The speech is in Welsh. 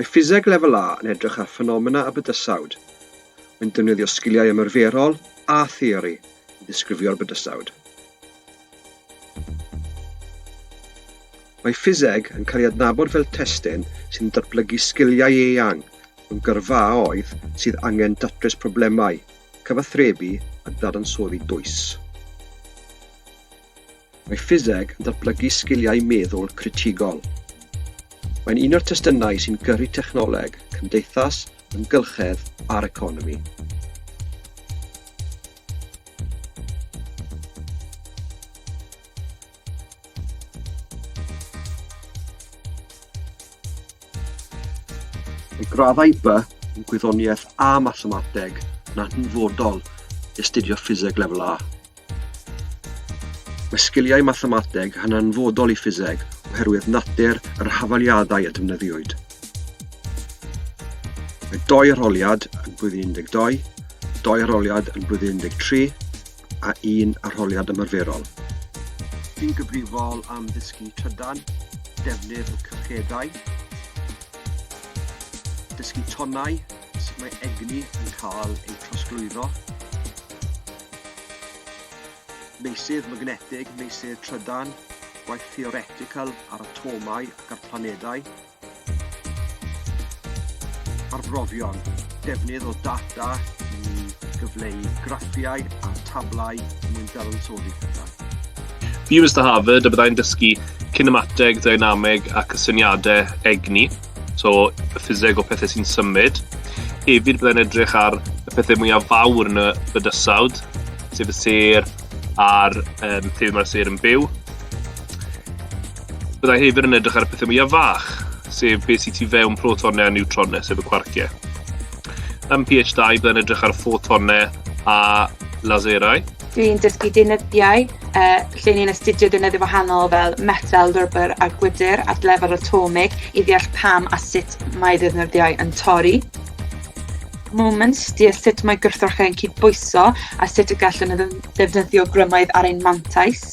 Mae Ffiseg Lefel A yn edrych ar ffenomena a bydysawd. Mae'n defnyddio sgiliau ymarferol a theori i ddisgrifio'r bydysawd. Mae ffiseg yn cael ei adnabod fel testun sy'n datblygu sgiliau eang mewn gyrfaoedd sydd angen datrys problemau cyfathrebu a dadansoddi dwys. Mae ffiseg yn datblygu sgiliau meddwl critigol. Mae'n un o'r testunau sy'n gyrru technoleg, cymdeithas, ymgylchedd a'r economi. Mae graddau by yn gwyddoniaeth a mathemateg yn hanfodol i astudio ffiseg lefel A. Mae sgiliau mathemateg yn hanfodol i ffiseg oherwydd natur yr hafaliadau a defnyddiwyd. Mae doi arholiad yn blwyddyn 12, doi arholiad yn blwyddyn 13, a un arholiad ymarferol. Fi'n gyfrifol am ddysgu trydan, defnydd y cyllcedau, dysgu tonnau, sut mae egni yn cael ei trosglwyddo, meysydd magnetig, meysydd trydan, gwaith theoretical ar atomau ac ar planedau, Arbrofion, defnydd o data i gyfleu graffiau a tablau er mwyn dadansoddi pethau. View is the Harvard, a byddai'n dysgu cinemateg, ddynameg a cysyniadau egni, so y ffiseg o pethau sy'n symud. Hefyd byddai'n edrych ar y pethau mwyaf fawr yn y bydysawd, sef y sêr a'r um, lle mae'r sêr yn byw. Byddai hefyd yn edrych ar y pethau mwyaf fach, sef beth sy'n tu fewn protonau a niwtronau, sef y cwarciau. Ym PH2, byddai'n edrych ar ffotonau a laserau. Dwi'n dysgu deunyddiau uh, lle ni'n astudio deunyddiau wahanol fel metal, rybr a gwydr at lefel atomig i ddeall pam a sut mae deunyddiau yn torri. Moments, deall sut mae gwrthrychau yn cydbwyso a sut y gallen nhw ddefnyddio grymoedd ar ein mantais.